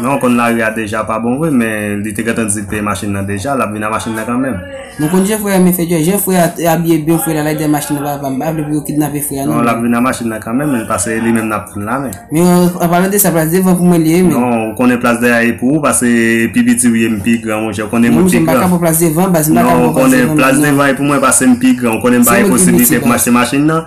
Non w konn lari a deja pa bon vre men li te gentan di peye machin nan deja lap vin a machin nan kanmenm. Mwen konn jan frè a men fè djòl jan frè a abiye byen frè la lage dèyè machin nan papa m pa vle pou yo kidnape frè a non. Non lap vin a machin nan kanmenm men pase li menm nap tann la men. Men an palan de sa plas devan pou mwen li ye men. Non ou konnen plas dèyè a e pou ou pase pi piti ou ye m pi gran monchè ou konnen mwen pi gran. Non monchè m paka pran plas devan baz m paka pran plas devan non. Non ou konnen plas devan e pou mwen pase m pi gran ou konnen m pa e posiblite pou m achte machin nan.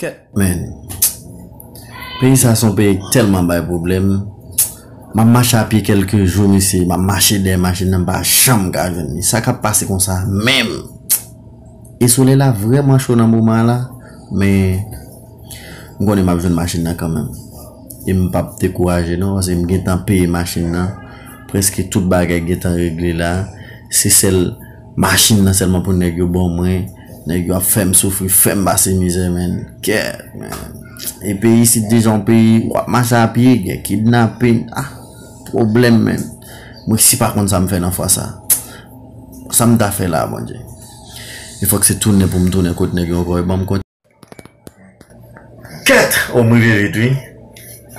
Ket menn. Peyi sa son peyi k telman bay pwoblem. Map mache a pye kelke jou mesye, map mache dèyè machin nan mpa janm ka jwenn li. Sa kap pase konsa menm? E solèy la vreman cho nan moman an la, men m konnen map jwenn machin nan kanmenm. E m pap dekouraje non paske m gentan peye machin nan, preske tout bagay gentan regle la, se sèl Machine nan selman pou neg yo bon mwen neg yo ap fem soufri fem pase mizè menn kèèt menn e peyi isit deja yon peyi wap mache a pye gen kidnapin ah pwoblem menn m resi pa konn sam fè nan fwa sa sam ta fè la bondye e fok se tounen poum tounen kot neg yo ankò yo banm. Ket oh m rive vit wi.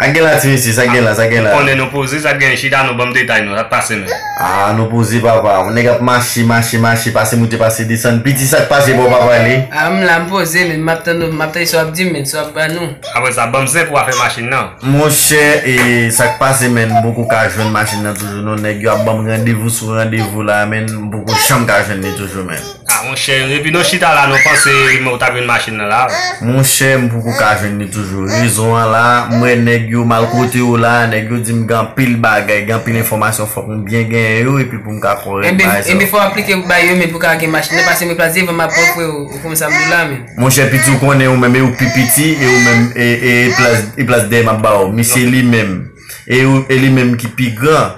Sa gen la ti mesye sa gen la sa gen la. Konnen nou poze sa gen chita nou banm detay nou sak pase menm. Ah nou poze papa on nèg ap mache mache mache pase moute pase desann piti sak pase bò papa li. Ah m la m poze menm map tann nou map tande sa wap dim menn sa wap ba nou. Apre sa banm zen pou afè machin nan. Monchè e sak pase menn m poko ka jwenn machin nan toujou non nèg yo ap banm randevou sou randevou la menn m poko janm ka jwenn li toujou menn. Ah monchè epi nou chita la nou panse men ou ta jwenn machin nan la a. Monchè m poko ka jwenn li toujou rezon an la m wè nèg yo mal kote yo la a nèg yo di m gen anpil bagay gen anpil enfòmasyon fòk m byen genyen yo epi pou m ka kòrèk bay sa yo. Enben fò w aplike pou bay yo men pou w ka gen machin nan pase men plas devan m ap pran freo ou konprann sa m di w la a menm. Monchè piti ou konnen ou menm e ou pi piti e ou menm e plas e plas dèyè m ap ba ou misye li menm e ou e li menm ki pi gran.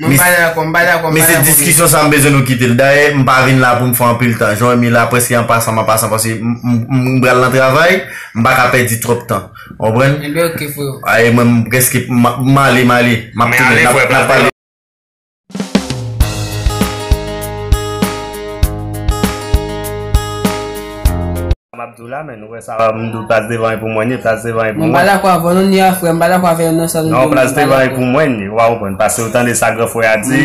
Mwen pa dakò, m pa dakò, m pa dakò. Mesye diskisyon sa m bezwen nou kite l. Dayè m pa vin la pou m fè anpil tan. Jan Remy la prèske an pasan m an pasan paske m pral nan travay, m pa ka pèdi twòp tan. Ou konprann? Enben ok freo. A e mwen m prèske m ale m ale. M ap tounen. N ap pale. Map diw la men nou wè sa m diw plas devan e pou mwen ye plas devan e pou mwen. Mwen pa dakò avèw non ni a frèm m pa dakò avèw nan sa nou diw m pa dakò. Non plas devan e pou mwen ye ou pa konprann pase ou tande sa gran frè a di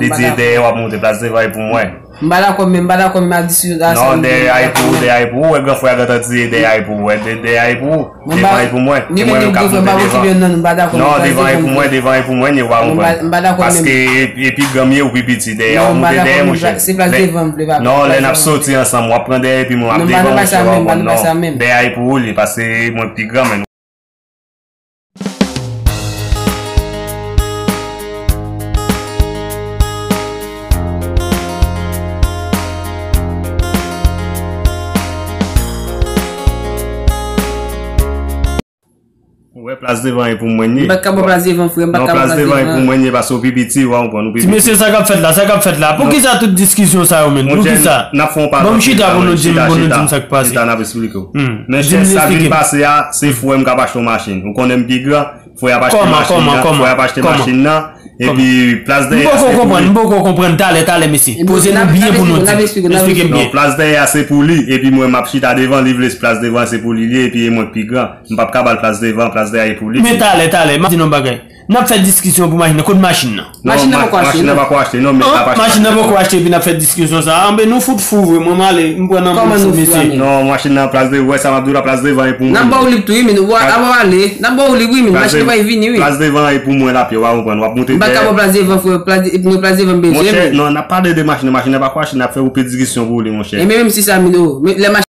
li di e dèyè wap moute plas devan e pou mwen. M pa dakò men m pa dakò menm a di si a sa nou diw m pa dakò. Non dèyè a e pou ou dèyè a e pou ou ou wè gran frè a gentan di e dèyè a e pou ou wè dèyè a e pou ou. Mwen pa Devan e pou mwen. Se mwen menm kap monte devan. Non mpa dakò non devan e pou mwen devan e pou mwen ni wa konprann. Mpa dakò menm. Paske e pi granm ye ou pi piti dèyè wap monte dèyè monchè. Se plas devan m vle papa. Non lè nap soti ansanm wap pran dèyè epi mwen map devan monchè wa konprann non. Dèyè a e pou ou li pase mwen pi granm en. Mwen plas devan e pou mwen ye. Mwen pa kapab plas devan frè, mwen pa kapab plas devan. Non plas devan e pou mwen ye paske ou pi piti, ou pi piti. Ti mesye sa kap fèt la, sa kap fèt la. Pou kisa tout diskisyon sa yo menn? Pou kisa? Nap fon pa. Bon m chita pou nou di m, pou nou di m sak pase. Chita nap esplike ou. Mèche sa vin pase a, se fwè m kap achte yon machin. Ou konnen m pi gran. Fò y ap achte machin nan. Kòman, kòman, kòman? Fò y ap achte machin nan. Epi plas dèyè a se pou li. M poko konprann, m poko konprann. Talè, talè mesye. Poze nou byen pou nou di. Esplike m byen. Plas dèyè a se pou li. Epi mwen m ap chita devan. Li vle plas devan an se pou li li ye. Epi e mwen ki pi gran. M pap ka ba l plas devan. Plas dèyè a e pou li. Men talè, talè. M ap di nou yon bagay. N ap fè diskisyon pou machin nan. Kot machin nan? Machin nan poko achte non. An, machin nan poko achte epi nap fè diskisyon sa a. Anben nou fout fou vre. Mwen male, m pran nan moun sou mesye. Non, machin nan plas devan, ou wè sa map di w la, plas devan e pou mwen. Nap ba w li ptou wi min, ou ap ale. Nap ba w li wi min, machin nan pral vini wi. Plas devan e pou mwen lap ye, ou pa konprann. Wap moute dèyè. M pa ka ba w plas devan freo, plas devan, non plas devan m bezwen min. Monchè, non nap pale de machin nan, machin nan pako achte, nap fè ou pè diskisyon pou li monchè. Enben menm si sa min, o, men lè machin.